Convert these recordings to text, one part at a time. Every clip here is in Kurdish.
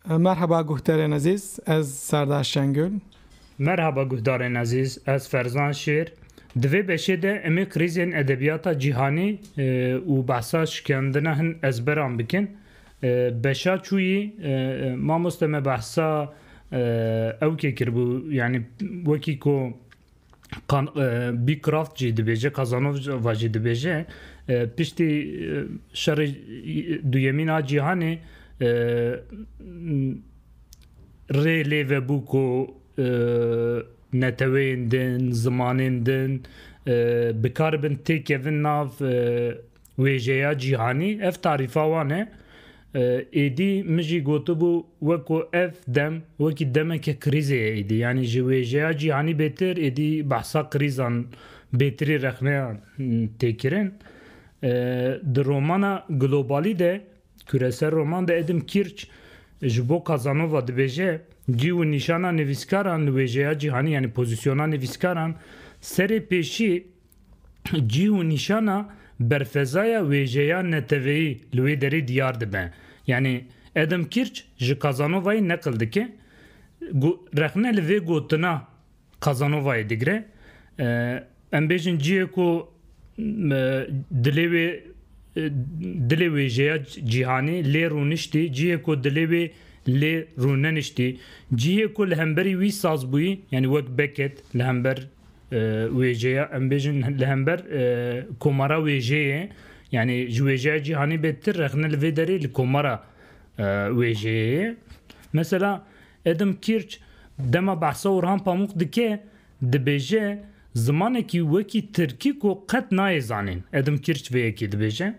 Merhaba guhdarên ezîz, ez Serdar Şengül. Merhaba guhdarên ezîz, ez Ferzan Şêr. Di vê beşê de em ê krîzên edebiyata cîhanî û behsa şikendina hin ezberan bikin. Beşa çûyî mamoste me behsa ewkê kiribû yanî wekî ku Bîkraft jî dibêje Kazanova jî dibêje piştî şerê duyemîn a cîhanê rê lê vebû ku neteweyên din, zimanên din bikaribin têkevin nav wêjeya cîhanî ev tarîfa wan e. Êdî min jî gotibû weko ev dem wekî demeke krîzê ye êdî yanî ji wêjeya cîhanî bêtir êdî behsa krîzan bêtirî rexneya têkirin. Di romana Globalî de kureser roman de Edim Kîrç ji bo Kazanova dibêje cî û nîşana nivîskaran li wêjeya cîhanî yanî pozîsyona nivîskaran serê pêşî cîh û nîşana berfezaya wêjeya neteweyî li wê derê diyar dibe. Yanî Adam Kîrç ji Kazanovayê neqil dike, rexne li vê gotina Kazanovayê digire, Em bêjin cihê ku dilê wê dilê wêjeya cîhanî lê rûniştî, cihê ku dilê wê lê rûneniştî, cihê ku li hemberî wî saz bûyî, yanî wek Beckett li hember Wêjeya em bêjin li hember komara wêjeyê yanî ji wêjeya cîhanî bê tu rexne li vê derê li komara wêjeyê. Mesela Adam Kirch dema behsa Orhan Pamuk dike dibêje zimanekî wekî tirkî ku qet nayê zanîn. Adam Kirch vê yekê dibêje.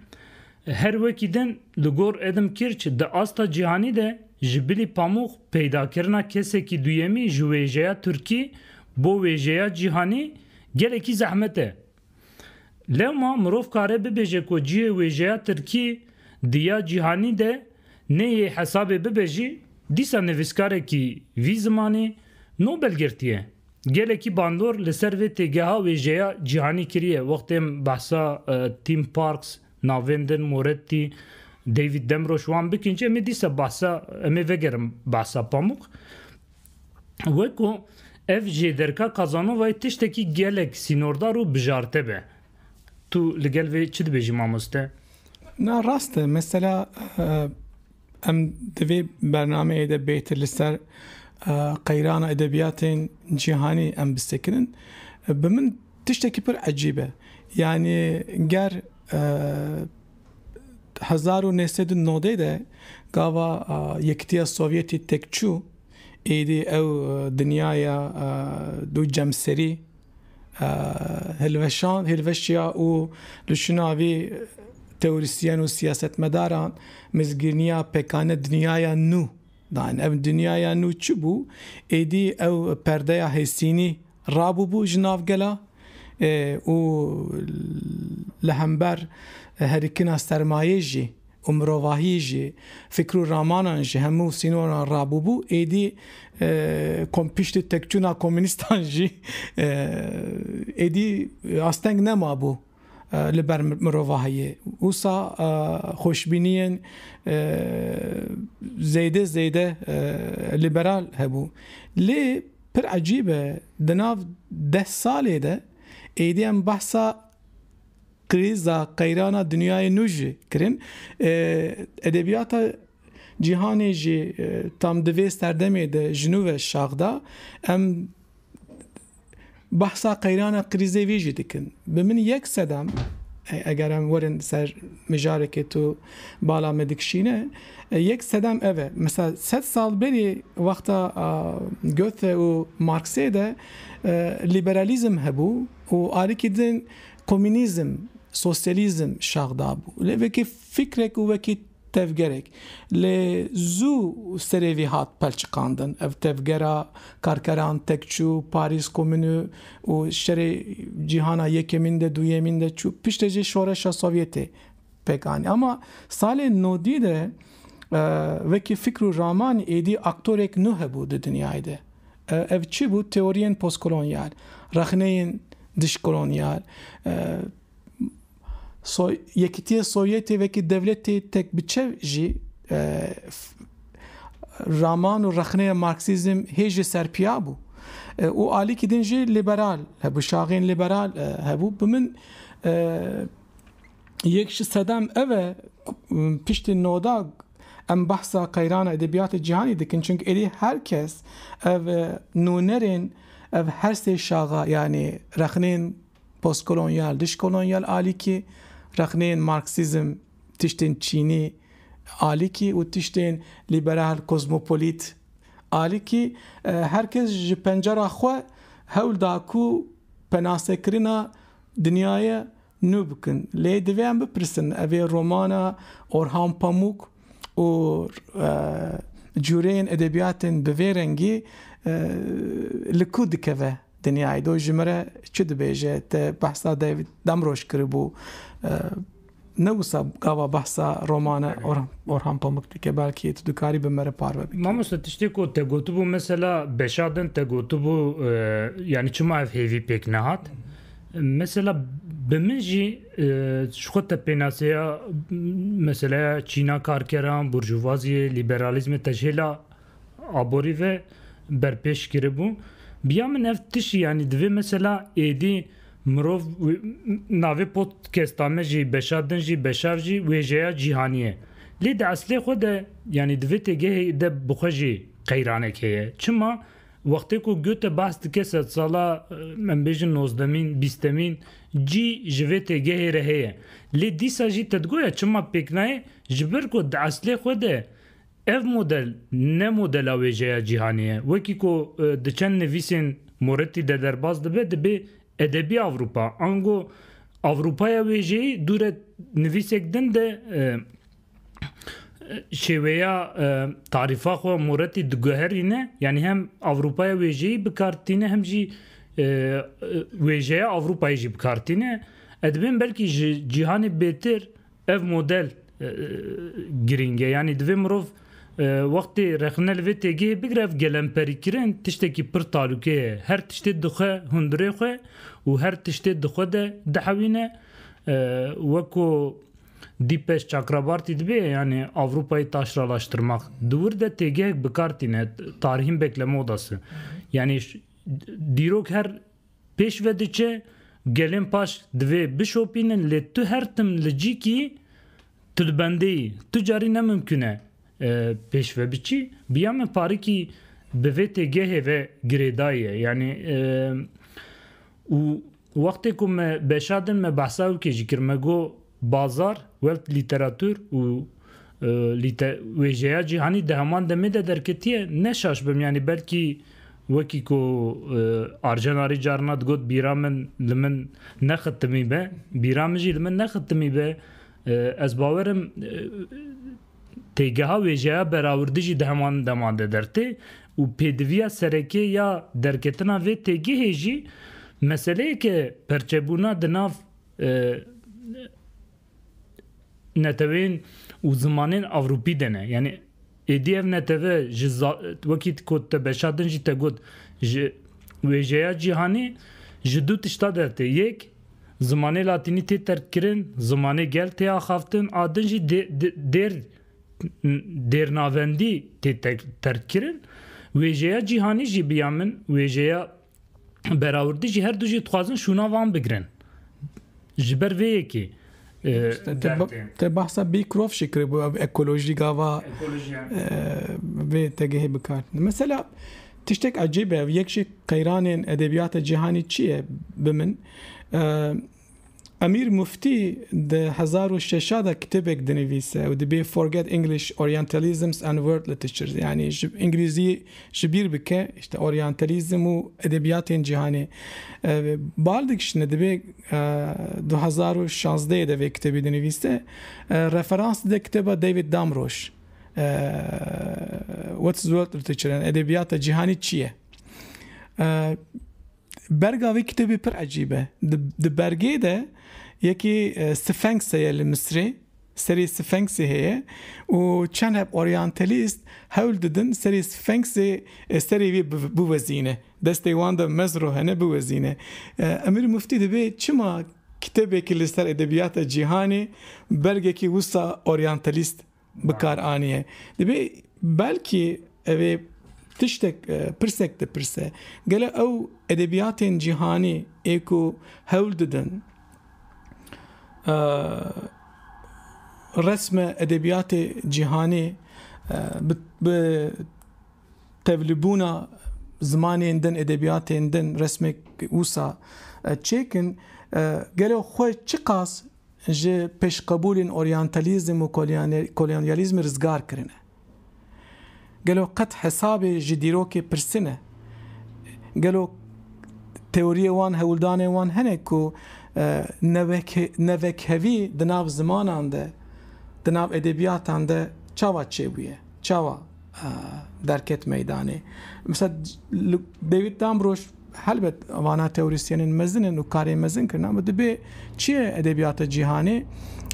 Her wekî din li gor Edim Kirch di asta cîhanî de ji bilî Pamûx peydakirina kesekî duyemî ji wêjeya Tirkî bo wêjeya cîhanî gelekî zehmet e. Lewma mirov kare bibêje ku cihê wêjeya Tirkî di ya cîhanî de nê yê hesabê bibe jî dîsa nivîskarekî vî zimanî Nobel girtiye. Gelekî bandor li ser vê têgeha wêjeya cîhanî kiriye. Wextê em behsa Tim Parks, navên din Moretti, David Demroş wan bikin jî em ê dîsa behsa em ê vegerin behsa Pamuk. Wek ku ev jê derka Casanovayê tiştekî gelek sînordar û bijarte be. Tu li gel vê çi dibêjî mamoste? Na rast e. Mesela Em di vê bernameyê de bêtir li ser qeyrana edebiyatên cîhanî em bi sekinin. Bi min tiştekî pir ecîb e. Yanî ger hezar û neh sed û nodê de gava Yekitiya Sovyetî têk çû, êdî ew dinyaya dû cemserî, hilweşand, hilweşiya û li şûna vî teorîsyen û siyasetmedaran mizgîrniya pekane dinyaya nû dan. Ev dinyaya nû çi bû? Êdî ew perdeya hêsînî rabûbû ji nav gela û li hember herikina sermayê jî, û mirovahiyê jî fikir û ramanan ji hemû sînoran rabûbû, êdî kom piştî tekçûna komûnîstan jî êdî asteng nemabû li ber mirovahiyê. Wisa xweşbîniyên zêde zêde lîberal hebû. Lê pir ecîb e di nav deh salê de êdî em behsa. Krîza qeyrana dinyayê nû jî kirin. Edebiyata cîhanê jî tam di vê serdemê de ji nû ve şax da. Em behsa qeyrana krîzê vî jî dikin. Bi min yek sedem eger em werin ser mijarekê tu bala me dikişîne, yek sedem ev e. Mesela sed sal berî wexta Göthe û Marxê de liberalizm hebû û alîkî din Komînîzm, sosyalîzm şax dabû lê wekî fikrek û wekî tevgerek lê zû serê vî hat pelçiqandin. Ev tevgera karkeran tek çû Parîs Komûnû û şerê cîhana yekemîn de duyemîn de çû. Piştê jî şoreşa Sovyetê pêk anî. Ama salên nodî de wekî fikr û raman êdî aktorêk nû hebû di dinyayê de. Ev çi bû? Teoriyên postkolonyal, rexneyên dijkolonyal, Yekîtiyê Sovyetê wekî dewletê tek bi çev jî raman û rexneya marksîzm hê jî serpiya bû. Û alîkî din jî lîberal hebû, şaxên lîberal hebû. Bi min Yek ji sedem ev e piştî noda em behsa qeyrana edebiyatê cîhanî dikin çunke êdî her kes ev nûnerên ev her sê şaxa yanî rexnên postkolonyal, dijkolonyal alîkî, rexnên marksîzm, tiştên çînî alîkî û tiştên lîberal kozmopolît alîkî her kes ji pencera xwe hewl da ku penasekirina Dinyayê nû bikin. Lê divê em bipirsin ev ê romana Orhan Pamuk û cûreyên edebiyatên bi vê rengî li ku dikeve dinyayê do ji min re çi dibêje te behsa David Damrosch kiribû. Ne wisa gava behsa romana Orhan Pamuk dike belkî tu dikarî bi me re parve bikî. Mamoste tiştê ku te gotibû mesela beşa din te gotibû yanî çima ev hêvî pêk nehat? Mesela bi min jî ji xwe te pênaseya meseleya çîna karkeran, burjuvaziyê, lîberalîzmê te ji hêla Aborî ve berpêş kiribû. Biya min ev tişî yanî divê mesela êdî mirov navê podcasta me jî beşa din jî beşav jî wêjeya cîhanî ye. Lê di eslê xwe de yanî divê têgehê de bi xwe jî qeyranek heye. Çima? Wextê ku Goethe behs dike sedsala em bêjin nozdemîn, bîstemîn cî ji vê têgehê re heye. Lê dîsa jî te digoya çima pêk nayê? Ji ber ku di eslê xwe de Ev model ne modela wêjeya cîhanê ye. Wekî ku di çend nivîsên Moretti de derbas dibe, dibê edebî Ewropa, ango Ewropaya wêjeyî dûre nivîsek din de şêweya tarîfa xwe Moretti diguherîne, yanî hem Ewropaya wêjeyî bi kar tîne hem jî wêjeya Ewropayê jî bi kar tîne. Ez dibêjim belkî ji cîhanê bêtir Ev model girîng e. Yanî divê mirov wextê rexne li vê têgihê bigire ev gelemperîkirin tiştekî pir talûke ye. Her tiştê dixwe hundirê xwe û her tiştê di xwe de dihewîne. Weko Dîpeş Çakrabartî dibê yanî Ewropayê taşralaştirmak. Di wir de têgihek bikar tîne, tarihîn bekleme odası. Yanî dîrok her Pêş ve diçe, gelên paş divê bişopînin lê tu her tim li cî kî tu di bendê yî. Tu carî ne mimkûn e pêş ve biçî. Biya me parikî bi vê têgehê ve girêdaye. Yanî û wextê ku me beşa din me behsa wekê jî kir. Me got Bazar, Welt Lîteratûr û Lîte wêjeya cîhanî di heman demê de derketiye, ne şaş bim yanî belkî wekî ku Arjenarî carina digot bîra min li min nexitimî be, bîra min jî li min nexitimî be, ez bawer im têgeha wêjeya berawirdi jî di heman dema de dertê û pêdiviya serekê ya derketina vê têgehê jî meseleyeke perçebûna di nav netewên û zimanên Ewropî de ne. Yanî êdî ev netewe ji wekî ku te beşa din jî te got ji wêjeya cîhanê ji du tişta der tê. Yek zimanê latînî tê terkkirin, zimanê gel tê axaftin a din jî dêr dêrnavendî tê terkkirin. Wêjeya cîhanî jî bi ya min wêjeya Berawirdi jî herdu jî dixwazin şûna van bigirin. Ji ber vê yekê Te bahsa Bîkrov şî kiribû ev ekolojî gava vê tegehê bikar. Mesela tiştek ecêb e ev yek ji qeyranên edebiyata cîhanî çi ye bi min Emîr Muftî di hezar û şeş a de kitêbek dinivîse û dibê Forget English Orientalisms and World Literatures yanî Îngilîzî ji bîr bike îşte oryantelîzm û edebîyatên cîhanê. Bal dikişne dibê du hezar û şazdeyê de vê kitêbê dinivîse. Referans dide kitêba David Damrosch What is World Literature yanî edebîyata cîhanî çi ye? Berga vê kitêbê pir ecîb e. Di bergê de yekê Sfenks heye li Misrê, serê Sfenksê heye û çend heb oryantelîst hewl didin serê Sfenksê serê wê biwezîne, destê wan de mezro hene biwezîne. Emîr Muftî dibê çima kitêbekî li ser edebiyata cîhanê bergekî wisa oryantelîst bi kar aniye. Dibê belkî ev ê tiştek pirsek dipirse, gelo ew edebiyatên cîhanî ê ku hewl didin resme edebiyatê cîhanî bi tevlibûna zimanên din, edebiyatên din resmek wisa çêkin, gelo xwe çiqas ji pêşqebûlên oryantalîzm û kolonyalîzmê rizgar kirine. Gelo qet hesabê ji dîrokê pirsine? Gelo teoriyê wan, hewldanên wan hene ku nevekhevî di nav zimanan de, di nav edebiyatan de çawa çêbûye? Çawa? derket meydanê. Misal li David Damrosch helbet vana teorîsyenên mezin in û karê mezin kirin ama dibê çiyê edebiyata cîhanê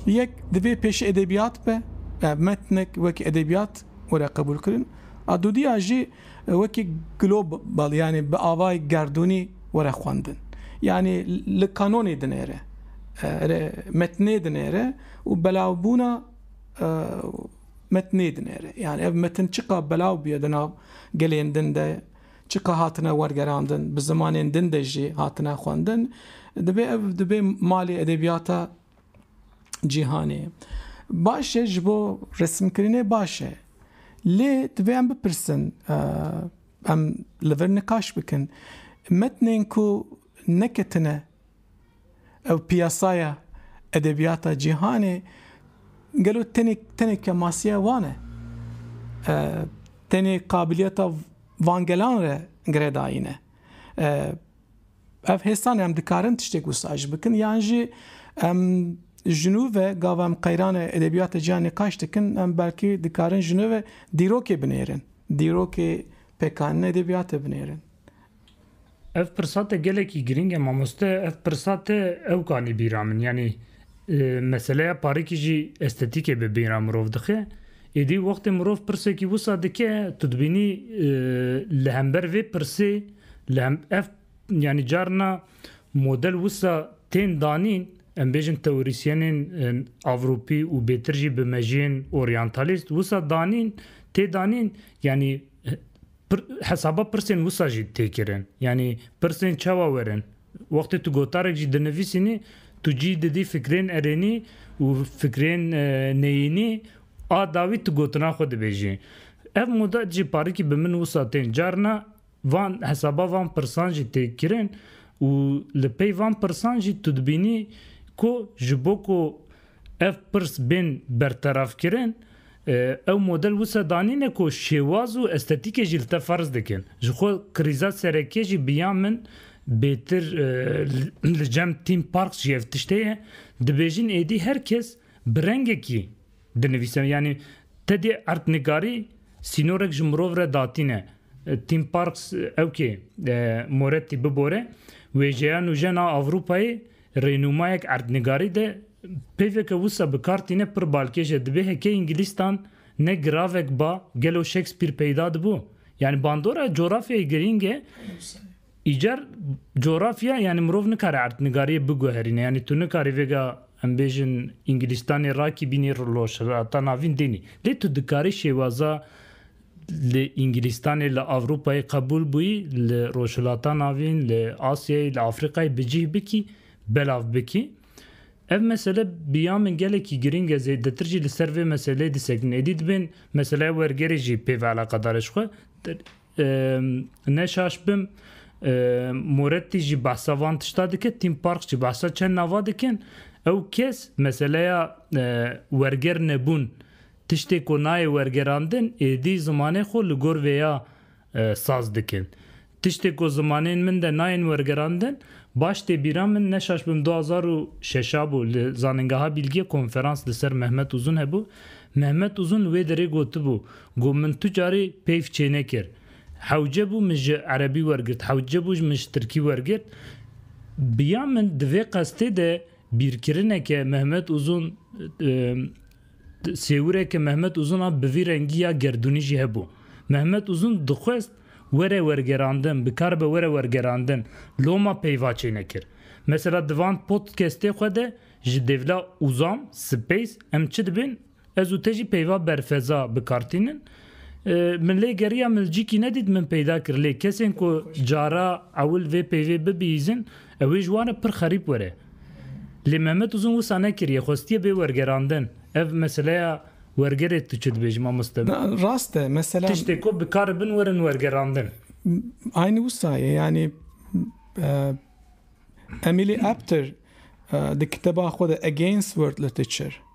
yek divê pêşî edebiyat be metnek wekî edebiyat were qebûl kirin a dûdîya jî wekî global yanî bi avayê gerdûnî were xwendin yanî li kanonê dinêre metnê dinêre û belavbûna Metnê dinêre. Yanî ev metin çiqas belav bûye di nav gelên din de, çiqas hatine wergerandin, bi zimanên din de jî hatine xwendin, divê ev dibe malê edebiyata cîhanê. Baş e ji bo resimkirinê baş e. Lê divê em bipirsin, em li vir nikaş bikin. Metnên ku neketine Ew piyasaya edebiyata cîhanê gelo tenê tenê kemasiya wan e? Tenê qabiliyeta van gelan re girêdayîn e? Ev hêsan em dikarin tiştêk wisa ji bikin yan jî em ji nû ve gava em qeyrane edebiyata cîhanê nîqaş dikin em belkî dikarin ji nû ve dîrokê binêrin. Dîrokê pêkanîna edebiyatê binêrin. Ev pirsa te gelekî girîng e mamoste, ev pirsa te ewk anî bîra min yanî meseleya parikî jî estetîkê bi bîra mirov dixe. Êdî wextê mirov pirsekî wisa dike tu dibînî li hember vê pirsê li hem ev yanî carna model wisa tên danîn em bêjin teorîsyenên Avropî û bêtir jî bi mejiyên oryantalîst wisa danîn tê danîn yanî Hesaba pirsên wisa jî tê kirin. Yanî pirsên çawa werin? Wextê tu gotarek jî dinivîsînî tu cî didî fikrên erênî û fikrên neyînî a dawî tu gotina xwe dibêjî. Ev moda jî parikî bi min wisa tên. Carna van hesaba van pirsan jî tê kirin û li pey van pirsan jî tu dibînî ku ji bo ku Ev pirs bên bertevafkirin, ew model wisa danîne ku şêwaz û estetîkê jî li te ferz dikin. Ji xwe krîza serekî jî bi ya min bêtir li cem Theme Parks jî ev tiştê ye. Dibêjin êdî her kes bi rengekî dinivîse. Yanî te dê erdnigarî sînorek ji mirov re datîne. Theme Parks ewkê Moretti bibore, wêjeya nûjen a Ewropayê Rênûmayek erdnigarî de peyvê ke wisa bi kar tîne pir balkêş e, dibê heke îngilîztan ne giravek ba gelo Shakespeare peyda dibû? Yanî bandora cografyayê girîng e, îcar cografya yanî mirov nikare erdnigariyê biguherîne. Yanî tu nikarî vêga em bêjin îngilîztanê rakîbînî rojhilata navîn dênî. Lê tu dikarî şêwaza Li Îngilîstanê, li Ewropayê qebûl bûyî, li Rojhilata Navîn, li Asyayê, li Afrîkayê bi cih bikî, belav bikî. Ev mesele bi ya min gelekî girîng e, zêdetir jî li ser vê meseleyê disekin. Êdî dibên meseleya wergerê jî pê ve eleqedar e. Ji xwe ne şaş bim, Moretti jî behsa van tişta dike, Tim Parks jî behsa çend nava dikin. Ew kes meseleya werger nebûn, Tiştê ku nayê wergerandin êdî zimanê xwe li gor vê ya saz dikin. Tiştê ku zimanên min de nayên wergerandin, baş tê bîra min ne şaş bim du hezar û şeş a bû li Zanîngeha Bîlgiyê konferans li ser Mehmet Uzun hebû, Mehmet Uzun li wê derê gotibû ku min tu carî peyv çênekir. Hewce bû min ji erebî wergirt, hewce bû min ji tirkî wergirt. Bi ya min di vê qestê de bîrkirineke Mehmet Uzun Sêwireke Mehmet Uzun a bi vî rengî ya gerdûnî jî hebû. Mehmet Uzun dixwest were wergerandin, bikaribe were wergerandin, loma peyva çênekir. Mesela di van podkestê xwe de ji dêvla Uzam, Space, em çi dibên, ez û te jî peyva berfeza bikartînin. Min lê geriya milcîkî nedît min peyda kir lê kesên ku cara ewil vê peyvê bibihîzin, Ew ê ji wan re pir xerîb were. Lê Mehmet Uzun wisa nekiriye, xwestiye bê wergerandin. Ev meseleya wergerê tu çi dibêjî mamoste? Na, rast e, mesela. Tiştê ku bikaribin werin wergerandin. Aynî wisa ye, yanî Emily Apter di kiteba xwe de Against World Literature,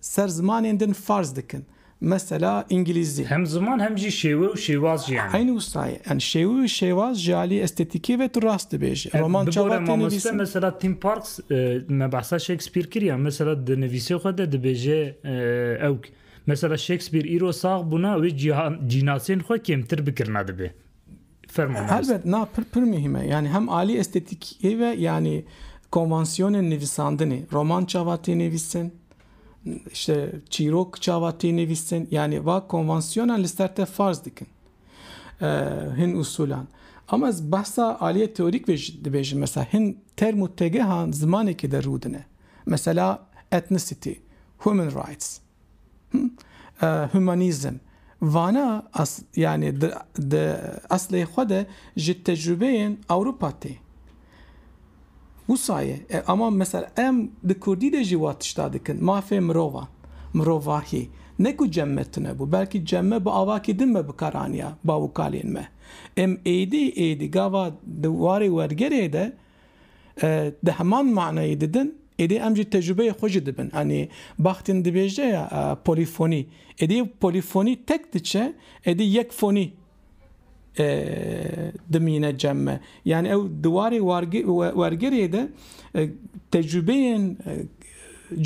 Ser zimanên din farz dikin. Mesela îngilîzî. Hem ziman hem jî şêwe û şêwaz jî hene. Eynî wisa ye. Yan şêwe û şêwaz ji aliyê estêtîkê ve tu rast dibêjî. Roman çawa tê nivîsin? Bi gorî mamoste mesela Tim Parks me behsa Shakespeare kiriya. Mesela di nivîsê xwe de dibêje ewk. Mesela Shakespeare îro sax bûna wê cînasên xwe kêmtir bikirina dibe. Helbet na pir pir muhîm e. Yanî hem alî estetîkê ve yanî konvansiyonên nivîsandinê, roman çawa tê nivîsin, işte çîrok çawa tê nivîsin yanî va konvansiyonan li ser te farz dikin. Hin usulan. Ama ez behsa aliyê teorîk ve jî dibêjim. Mesela hin term û tegehan zimanekê de rûdine. Mesela ethnicity, human rights. Humanîzm, vana yanî di eslê xwe de ji tecrûbeyên Ewropa tê. Wisa ye ama mesela em di kurdî de jî wan tişta dikin, mafê mirovan, mirovahî ne ku cem me tune bû belkî cem me bi avakî din me bi kar aniya bav û kalên me. Em êdî êdî gava di warê wergerê de Di heman manayê didin, êdî em jî tecrubeyê xwe jî dibin. Anî Bakhtin dibêje ya polîfonî. Êdî ew polîfonî tek diçe, êdî yek fonî dimîne cem me. Yanî ew di warê wergerê de tecrubeyên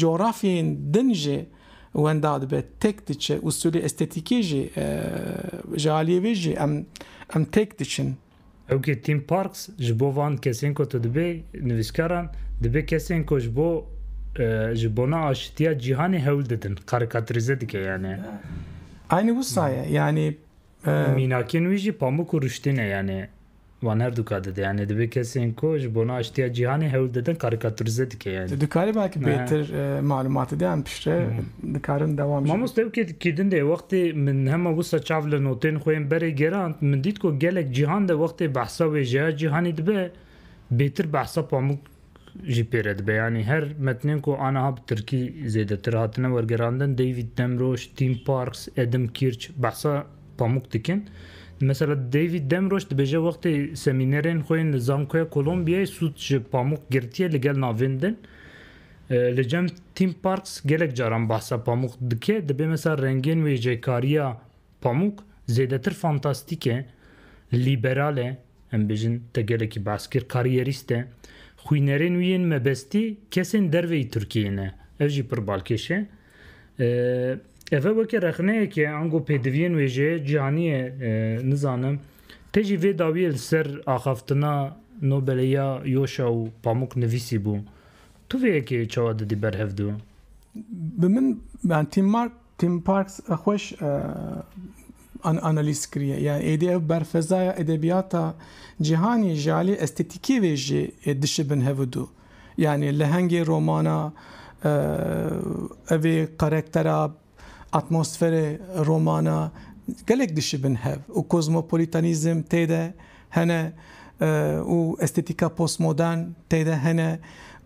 cografyeyên din jî wenda dibe, tek diçe. Usulê estetîkê jî ji aliyê vê jî em tek diçin. Ew kê Tim Parks ji bo van kesên ku tu dibê nivîskaran dibê kesên ku ji bo ji bona aşitiya cîhanê hewl didin karîkatirîze dike yanê. Aynî wisa ye yanî. Mînakên wî jî pamûk û rûştî ne yanê wan her dûka dide yanê dibê kesên ku ji bona aşitiya cîhanê hewl didin karîkatirîze dike yanê. Tu dikarî belkî bêtir malûmatê de yan piştre dikarin dewam jî. Mamoste ew kê Kîdindê wextê min hema wisa çav li notên xwe yên berê gerand, min dît ku gelek cîhan de wextê behsa wêjeya cîhanî dibe, bêtir behsa Pamuk jî pê re dibe. Yanî her metnên ku aniha bi tirkî zêdetir hatine wergerandin, David Demroş, Tim Parks, Adam Kirch behsa Pamuk dikin. Mesela David Demroş dibêje wextê semînerên xwe yên li Zankoya Kolombiyayê sûd ji Pamuk girtiye li gel navên din, Li cem Theme Parks gelek caran behsa pamûk dike, dibê mesa rengên wêjekariya pamûk zêdetir fantastîk e, lîberal e, em bêjin te gelekî behs kir, kariyerîst e. Xwînerên wî yên mebestî kesên derveyî Tirkiyeyê ne. Ev jî pir balkêş e. Ev e weke rexneyeke ango pêdiviyên wêjeyê cîhanî ye nizanim. Te jî vê dawiyê li ser axaftina Nobelê ya Yoşa û Pamûk nivîsîbû. Tu vê yekê çawa didî ber hev du? Bi min yani Tim Mark Tim Parks xweş an analîz kiriye. Yani êdî ev berfezaya edebiyata cîhanî ji alî estetîkê vê jî dişibin hev du. Yani lehengê romana evê karektera Atmosferê romana gelek dişibin hev û kozmopolîtanîzm tê de hene û estetîka postmodern tê de hene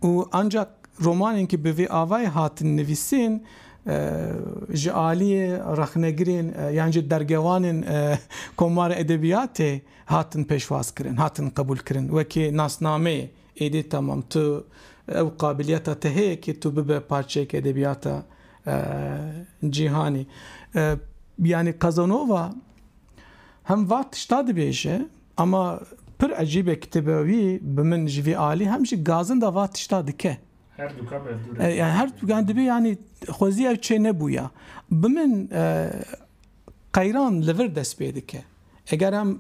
û ancak romanên ku bi vê avayê hatin nivîsîn ji aliyê rexnegirên yan jî dergewanên komara edebiyatê hatin pêşwazkirin, hatin qebûlkirin wekî nasnameyê Êdî tamam tu ew qabiliyeta te heye kê tu bibe parçeyek edebiyata cîhanî. Yanî Casanova hem va tişta dibêje ama pir ecîb e kitêba wî bi min ji vî alî hem jî gazin de va tişta dike. Herdûka berdûr e. Yani her yani dibê yani xwezî ew çê nebûya. Bi min qeyran li vir dest pê dike. Eger em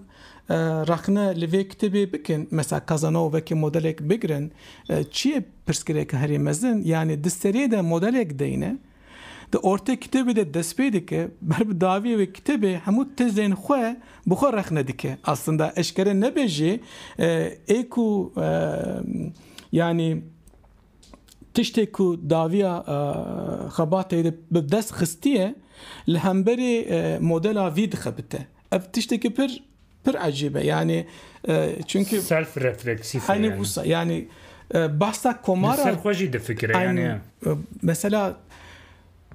rexne li vê kitêbê bikin, mesela Kazanova vekî modelek bigirin, çi ye pirsgirêka herî mezin, yanî di seriyê de modelek deyne, di ortê kitêbê de dest pê dike, ber bi dawiyê wê kitêbê hemû tezên xwe bi xwe rexne dike. Aslında eşkere nebe jî ê ku yanî, Tiştê ku dawiya xebatê bi dest xistiye li hemberê modela vî dixebite. Ev tiştekî pir pir ecîb e yanî çunki self refleksîf e yanî behsa komara li ser xwe jî difikire yanî mesela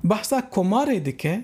behsa komarê dike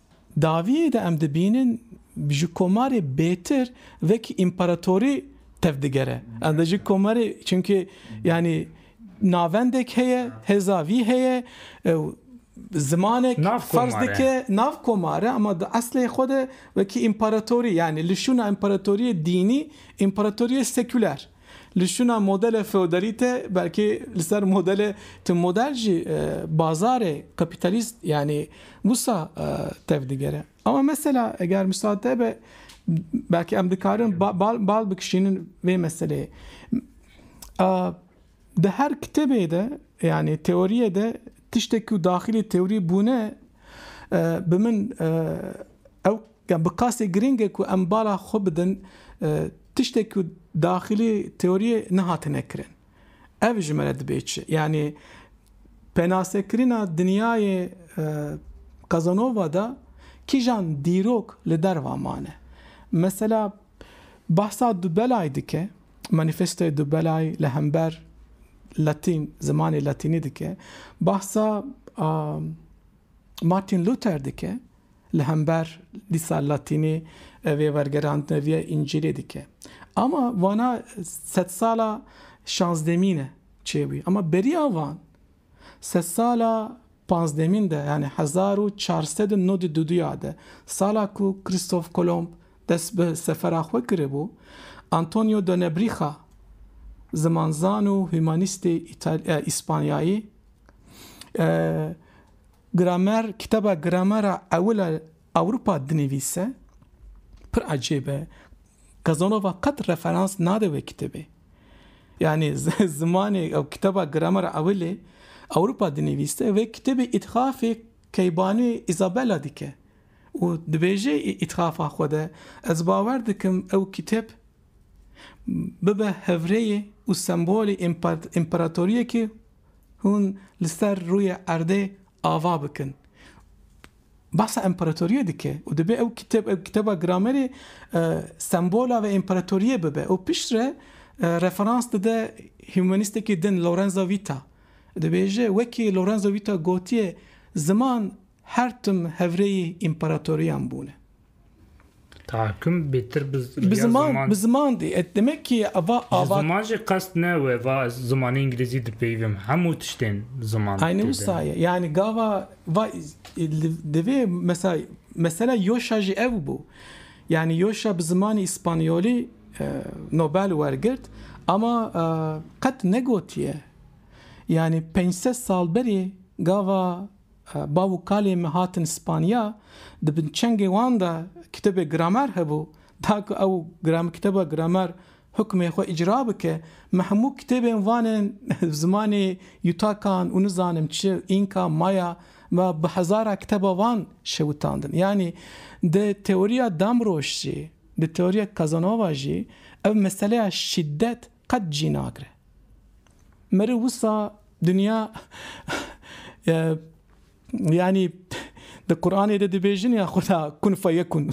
Dawiyê de em dibînin ji komarê bêtir vekî împaratorî tev digere. Em de ji komarê çimkî yanî navendek heye, hêza vî heye û zimanek ferz dike nav komar e ama di eslê xwe de wekî împaratorî yanî li şûna împaratoriyê dînî împaratoriyê sekûler. Li şûna modele feodalî te belkî li ser modele tu model jî bazarê kapîtalîst yanî wisa tev digere. Ama mesela eger misate be belkî em dikarin bal bikişînin vê meseleyê. Di her kitêbê de yanî teoriyê de tiştekî ku daxilî teorî bûne bi min ew Yan bi qasdê girîng e ku em bala xwe bidin tiştê ku daxilî teoriyê nehatine kirin. Ev ji me re dibê çi? Yanî penasekirina dinyayê Casanova de kîjan dîrok li derva mane? Mesela behsa Dubelay dike, Manifestoyê Dubelay li hember Latîn, zimanê Latînî dike, behsa a. Martin Luther dike, li hember dîsa latînî vê wergerandina vî ya Încîlê dike. Ama vana sedsala şazdemîn e çêbûye. Ama beriya van sedsala panzdemîn de yanî hezar û çar sed û nod û du du ya de sala ku Krîstof Kolomb dest bi sefera xwe kiribû Antonio de Nebrîxa zimanzan û humanîstê Îspanyayî Gramer kitaba Gramera ewil a Ewropa dinivîse pir ecêb e. Kazanova qet referans nade wê kitêbê. Yanî zimanê ew kitaba Gramera ewilê Ewropa dinivîse wê kitêbê îthafê keybanê Isabella dike û dibêje îthafa xwe de ez bawer dikim ew kitêb bibe hevrêyê û sembolê împaratoriyekê Hûn li ser rûyê erdê ava bikin. Bahsa împaratoriyê dike û dibe ew kitêb, ew kitêba gramerê sembola vê împaratoriyê bibe û piştre referans dide hûmanîstekî din Lorenzo Vîta. Dibêje wekî Lorenzo Vîta gotiye ziman her tim hevrêyî împaratoriyan bûne. Tahakküm bêtir bi Bi ya ziman, ziman. bi ziman dê. Et demek ki eva Ji ava ziman jî qest ne we va ez zimanê îngilîzî dipeyivim. Hemû tiştên ziman Aynı têde. wisa ye. Yani gava va divê mesela mesela Yoşa jî ev bû. Yani Yoşa bi zimanê İspanyolî e, Nobel wergirt ama e, qet negotiye. Yani 500 sal berê gava Bav û kalên me hatin Spanya, di bin çengê wan de kitêbê Gramer hebû. Da ku ew kitêba Gramer hukmê xwe îcra bike, me hemû kitêbên van ên zimanê Yutakan û nizanim çi, Înka, Maya, me bi hezara kitêba van şewitandin. Yanî di teoriya Damrosch jî, di teoriya Casanova jî ev meseleya şîdet Qet jî nagre. Meri wisa dinya yanî di Quranê de dibêjin ya Xuda kun feyekun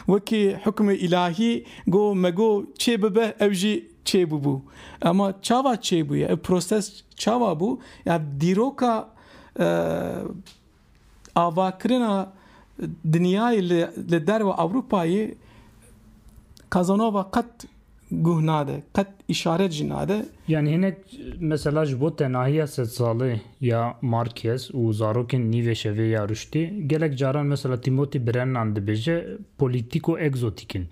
wekî hukmê îlahî go me go çê bibe ew jî çê bûbû. Ema çawa çê bûye? Ev proses çawa bû? Ya dîroka avakirina dinyayê li derve Ewropayê Kazanova qet guh nade, qet îşaret jî nade. Yanî hinek mesela ji bo tenahiya sedsalê ya Marquez û zarokên nîvê şevê ya Rûştî, gelek caran mesela Timothy Brennan dibêje polîtîko-ekzotîk in.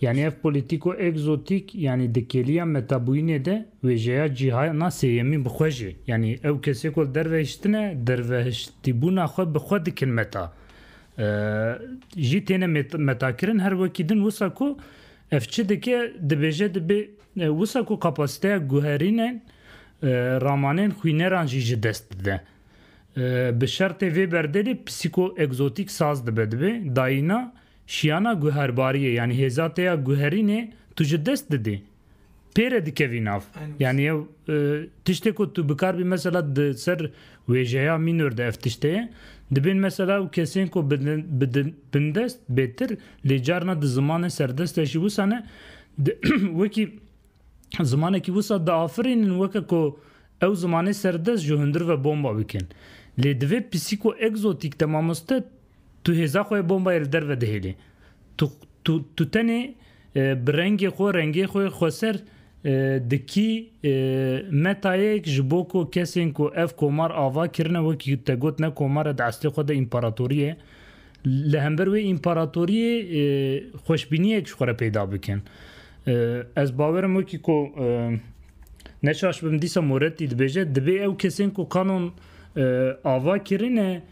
Yanî ev polîtîko egzotîk yanî di kêliya metabûyînê de wêjeya cîhana sêyemîn bi xwe jî yanî ew kesê ku li derve hiştine dervehiştîbûna xwe bi xwe dikin meta jî têne metakirin her wekî din wisa ku ev çi dike dibêje dibê wisa ku kapasîteya guherînên ramanên xwîneran jî ji dest dide bi şertê vê berdelê psîko egzotîk saz dibe dibê dayîna Şiyana guherbariyê yanî hêza te ya guherînê tu ji dest didê. Pê re dikevî nav. Yanî ew tiştê ku tu bikar bî mesela di ser wêjeya mînor de ev tişt heye. Dibên mesela ew kesên ku bi bindest bêtir lê carna di zimanê serdest de jî wisa ne wekî zimanekî wisa diafirînin weke ku ew zimanê serdest ji hundir ve bomba bikin. Lê divê psîkoegzotîk de mamoste Tu hêza xwe bombayê li derve dihêlî. Tu tu tu tenê bi rengê xwe rengê xwe xweser dikî metayek ji bo ku kesên ku ev komar ava kirine wekî te got ne komare di eslê xwe de împaratorî ye li hember wê împaratorîyê xweşbînîyek ji xwe re peyda bikin. Ez bawerim wekî ku neşaş bim dîsa Moretti dibêje dibê ew kesên ku kanon ava kirine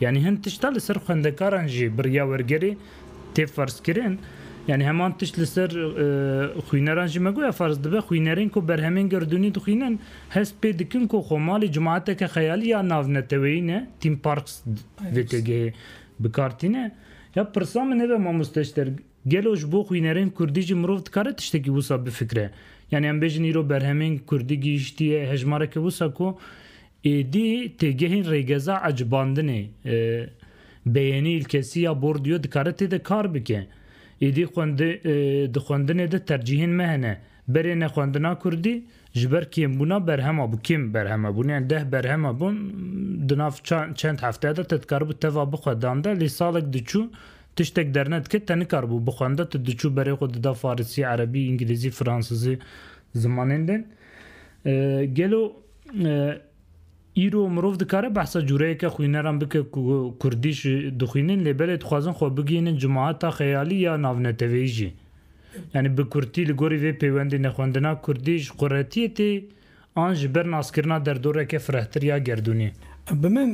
Yanî hin tişta li ser xwendekaran jî bi riya wergerê tê ferzkirin. Yanî heman tişt li ser xwîneran jî me goya ferz dibe xwînerên ku berhemên gerdûnî dixwînin hest pê dikin ku xwe malê cemaeteke xeyalî ya navneteweyî ne, theme parks vê têgehê bi kar tîne. Ya pirsa min ev e mamoste Ester, gelo ji bo xwînerên kurdî jî mirov dikare tiştekî wisa bifikire? Yanî em bêjin îro berhemên kurdî gihîştiye hejmareke wisa ku Êdî têgehên rêgeza ecibandinê, beyênî îlkesî ya Bourdieu dikare tê de kar bike. Êdî di xwendinê de tercîhên me hene, berê ne xwendina kurdî, ji ber kêmbûna berhema bû, kêm berheme bûn, yan deh berheme bûn, di nav çend hefte de te dikaribû teva bixwedan de, lê salek diçû tiştek dernedike te nikaribû bixwende, tu diçû berê xwe dida farisî, erebî, îngilîzî, fransizî zimanên din. Gelo. Îro mirov dikare behsa cûreyeke xwîneran bike ku kurdî jî dixwînin lê belê dixwazin xwe bigihînin cimaheta xeyalî ya navneteweyî jî. Yanî bi kurtî li gorî vê pêwendî ne xwendina kurdî ji quretiyê tê an ji ber naskirina derdoreke firehtir ya gerdûnî. Bi min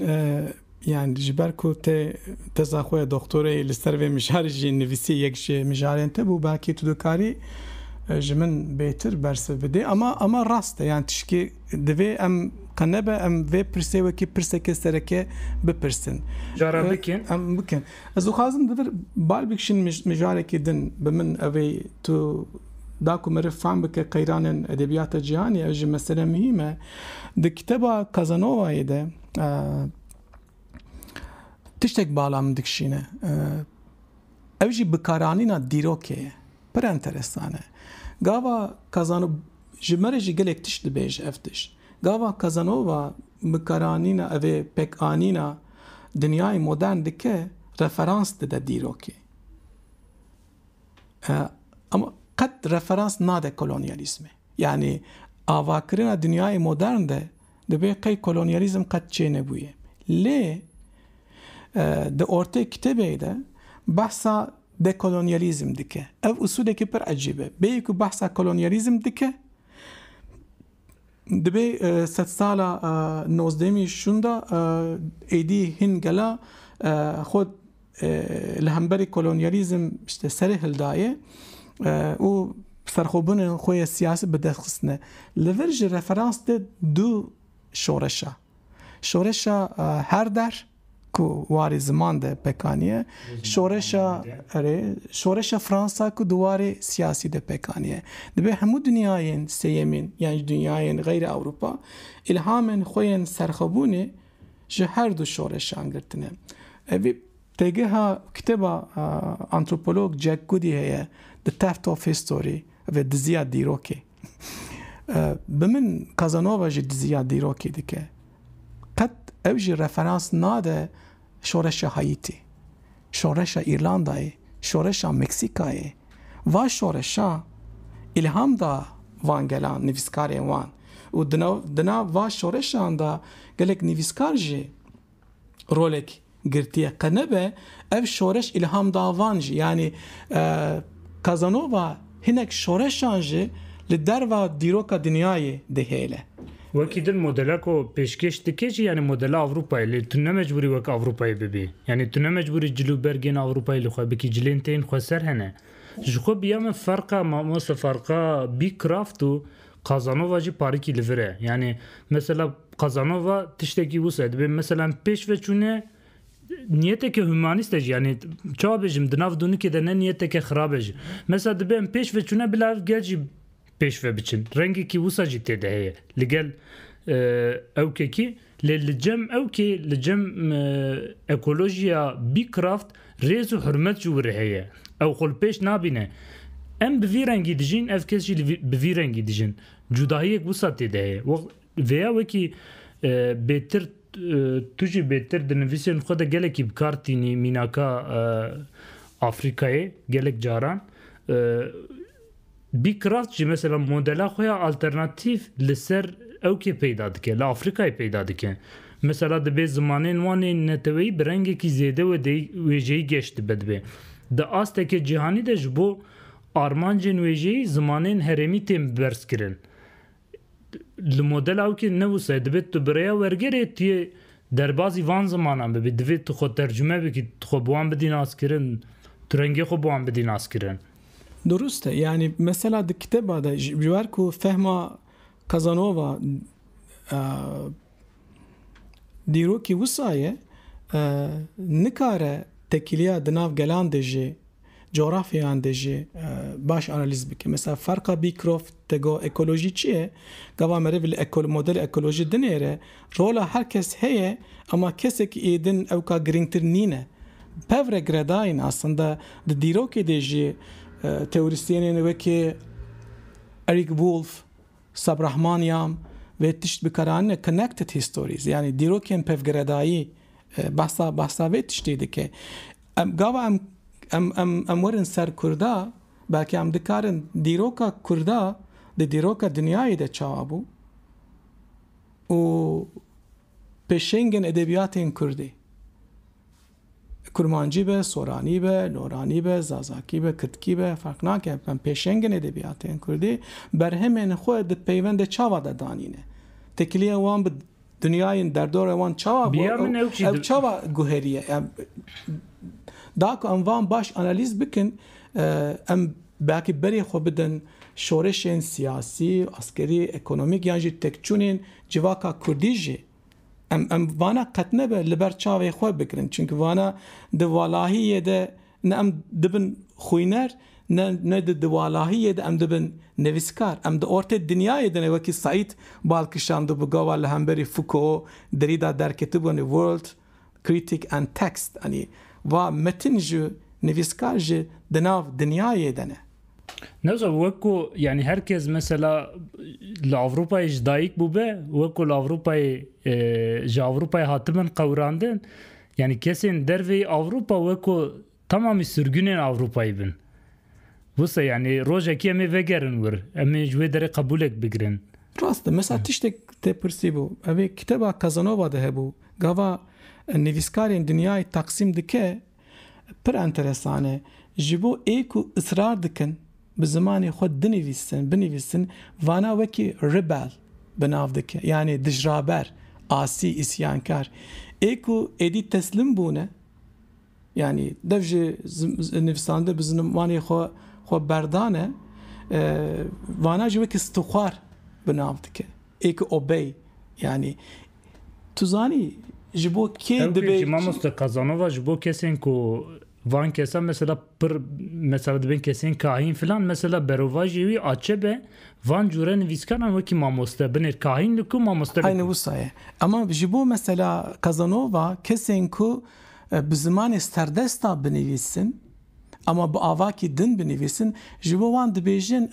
Yani ji ber ku te teza xwe ya doktorê li ser vê mijarê jî nivîsî yek ji mijarên te bû belkî tu dikarî ji min bêtir bersiv bidê. Ama ama rast e yani tişkê divê em qe nebe em vê pirsê wekî pirseke sereke bipirsin. Cara bikin. Em bikin. Ez dixwazim di vir bal bikişin mijarekî din bi min ev ê tu da ku meriv fehm bike qeyranên edebiyata cîhanê ev jî mesele muhîm e. Di kiteba Casanovayê de Tiştek bala min dikişîne. Ew jî bikaranîna dîrokê ye. Pir enteresan e. Gava Kazano ji me re jî gelek tişt dibêje ev tişt. Gava Kazanova bikaranîna evê pekanîna dinyayê modern dike referans dide dîrokê. Ama qet referans nade kolonyalîzmê. Yanî avakirina dinyayê modern de Dibê qey kolonyalîzm qet çê nebûye. Lê di ortê kitêbê de behsa dekolonyalîzm dike. Ev usulekî pir ecîb e. Bêyî ku behsa kolonyalîzm dike dibê sedsala nozdehemî şûnda êdî hîn gela xwe li hemberî kolonyalîzm işte serê hildaye û serxwebûnên xwe yê siyasî bi dest xistine. Li vir ji referans de du şoreş e. Şoreşa her der ku warê ziman de pekaniye, şoreşa erê şoreşa Fransa ku di warê siyasî de pekaniye. Dibe hemû dinyayên sêyemîn yan ji dinyayên xeyrê Ewropa îlhamên xwe yên serxwebûnê Ji her du şoreşan girtine. Vî têgeha kitêba antropolog Jack Goody heye The Theft of History ve Diziya Dîrokê. Bi min Casanova jî diziya dîrokê dike. Qet ew jî referans nade şoreşa Haîtî, şoreşa Îrlandayê, şoreşa Meksîkayê, Va şoreşa îlham da van gelan, nivîskarên wan û di nav va şoreşan de gelek nivîskar jî rolek girtiye. Qe nebe ev şoreş îlham da van jî. Yanî Casanova hinek şoreşan jî li derva dîroka dinyayê dihêle. Wekî din modela ku pêşkêş dike jî yanî modela Ewropayê lê tu ne mecbûrî wek Ewropayê bibî. Yanî tu ne mecbûrî cil û bergên Ewropayê li xwe bikî cilên tên xwe ser hene. Ji xwe bi ya min ferqa mamoste ferqa bî kraft û Kazanova jî parikî li vir e. Yanî mesela Kazanova tiştekî wisa ye dibê mesela em pêş ve çûne niyeteke humanîst e jî yanî çawa bêjim di nav dûnikê de ne niyeteke xirab e jî. Mesela dibê em pêş ve çûne bila ev gel jî pêş ve biçin. Rengekî wisa jî tê de heye li gel ewkekî lê li cem ewkê li cem ekolojiya Bîkraft rêz û hurmet ji wiri heye. Ew xwe li pêş nabîne. Em bi vî rengî dijîn ev kes jî bi vî rengî dijin. Cudahiyek wisa tê de heye. Vêya wekî bêtir tu jî bêtir di nivîsên xwe de gelekî bi kar tînî mînaka Afrikayê gelek caran Bîkraft jî mesela modela xwe ya alternatîf li ser ew kê peyda dike, li Afrîkayê peyda dike. Mesela dibê zimanên wan ên neteweyî bi rengekî zêde wedeyî wêjeyî geş dibe dibê. Di asteke cîhanî de ji bo armancên wêjeyî zimanên herêmî tên berzkirin. Li modela wekî ne wisa ye. Divê tu bi rêya wergerê tu yê derbazî van zimanan bibî. Divê tu xwe tercume bikî, tu xwe bi wan bidî naskirin, tu rengê xwe bi wan bidî naskirin. Durust e. Yanî mesela di kitêba de ji ber ku fehma Kazanova Dîrokî wisa ye, nikare tekîliya di nav gelan de jî, coğrafyayan de jî baş analîz bike. Mesela ferqa Beecroft, te got ekolojî çi ye? Gava merivî li modela ekolojî dinêre, rola her kes heye ema kesekî êdin ewka girîngtir nîne. Pev re giredayîn aslında di dîrokê de jî teorîsyenên wekî Eric Wolf, Subramaniam, Vê tişt bi karanîna connected histories yanî dîrokên pevgiredayî behsa behsa vê tiştê dike. Em gava em em em em werin ser Kurda belkî em dikarin dîroka Kurda di dîroka dinyayê de çawa bû û pêşengên edebiyatên Kurdê. Kurmancî be, soranî be, loranî be, zazakî be, kirdkî be ferq nake, em pêşengên edebiyatên kurdî berhemên xwe di peyvendê çava de danîne. Têkiliyên wan bi dinyayên derdorê wan çawa ew çawa guherîye? Da ku em van baş analîz bikin em belkî berê xwe bidin şoreşên siyasî, askerî, ekonomîk yan jî tekçûnên civaka kurdî jî. Em em vana qet nebe li ber çavê xwe bikirin. Çimkî vana di walahiyê de ne em dibin xwîner ne ne di di walahiyê de em dibin nevîskar. Em di ortê dinyayê de ne wekî Saîd bal kişandibû gava li hemberî Foucault, Derrida derketibû anî World, Critic and Text anî va metin ji nivîskar ji di nav dinyayê de ne. Newsa wek ku yanî her kes mesela li Ewropayê ji dayik bûbe wek ku li Ewropayê e, ji Ewropayê hatibin qewrandin yanî kesên dervê Ewropa wek ku tamamî sirgunên Ewropayê bin. Wisa yanî rojekî em ê vegerin wir, em ê ji wê derê qebûlek bigirin. Rast e. Mesela tiştek te pirsîbû. Evê kiteba Kazanova de hebû. Gava e, nivîskarên dinyayê taqsîm dike Pir enteresan e. Ji bo ê ku israr dikin bi zimanê xwe dinivîsin, binivîsin, vana wekî rebel bi nav dikin, yanî dijraber, asî, îsyankar. Ê ku êdî teslim bûne, yanî dev ji nivîsandin bi zimanê xwe xwe berdane, vana jî wekî stixwar bi nav dikin. Ê ku obey, yanî Tu zanî ji bo kê Ew dibê? Ji mamoste Kazanova ji bo kesên ku van kesa mesela pir mesela dibên kesên kahîn filan mesela berovajî wî açe be van cure nivîskaran wekî mamoste binêr kahîn li ku mamoste Heyne wisa ye. Ema ji bo mesela Kazanova kesên ku bi zimanê serdesta binivîsin, Ama bi avakî din binivîsin, ji bo wan dibêjin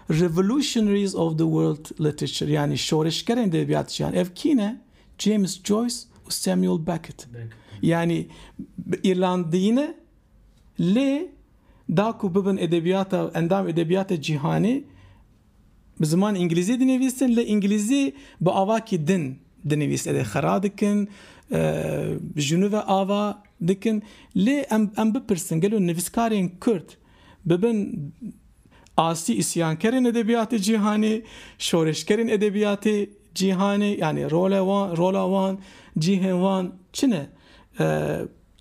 Revolutionaries of the World Literature yanî Şorişgerên Edebiyat jiyan. Ev kî ne? James Joyce û Samuel Beckett. Yanî bi Îrlandiyî ne lê da ku bibin edebiyata endam edebiyata cîhanê Bi ziman îngilîzî dinivîsin lê îngilîzî bi avakî din dinivîsin lê xera dikin ji nû ve ava dikin lê em em bipirsin gelo nivîskarên Kurd bibin asî îsyankerên edebiyatê cîhanê, şoreşkerên edebiyatê cîhanê yanî role wan rola wan cîhên wan çi ne?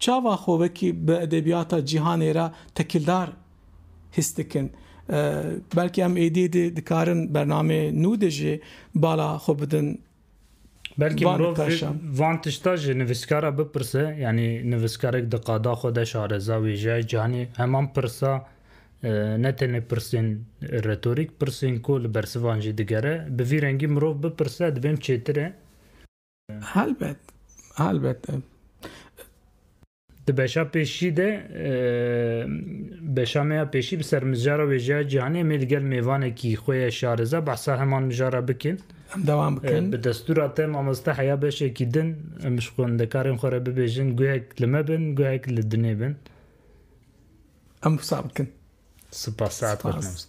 Çava xwe wekî bi edebiyata cîhanê re tekildar his dikin? Belkî em êdî dî dikarin bernameyê nû de jî bala xwe bidin Belkî van mirov vê nikaşan. van tişta ji nivîskara bipirse, yanî nivîskarek di qada xwe de şareza wêjeyayê cîhanê heman pirsa ne tenê pirsên retorîk, pirsên ku li bersivan jî digere, bi vî rengî mirov bipirse dibên çêtir e. Helbet, helbet. Di beşa pêşî de beşa me ya pêşî bi ser mijara wêjeya cîhanê em ê li gel mêvanekî xwe ye şarize behsa heman mijara bikin. Em dewam bikin. Bi destûra te mamoste heya beşekî din em ji xwendekarên xwe re bibêjin guhek li me bin guhek li dinê bin. Em wisa bikin. Sipas saet xweş mamoste.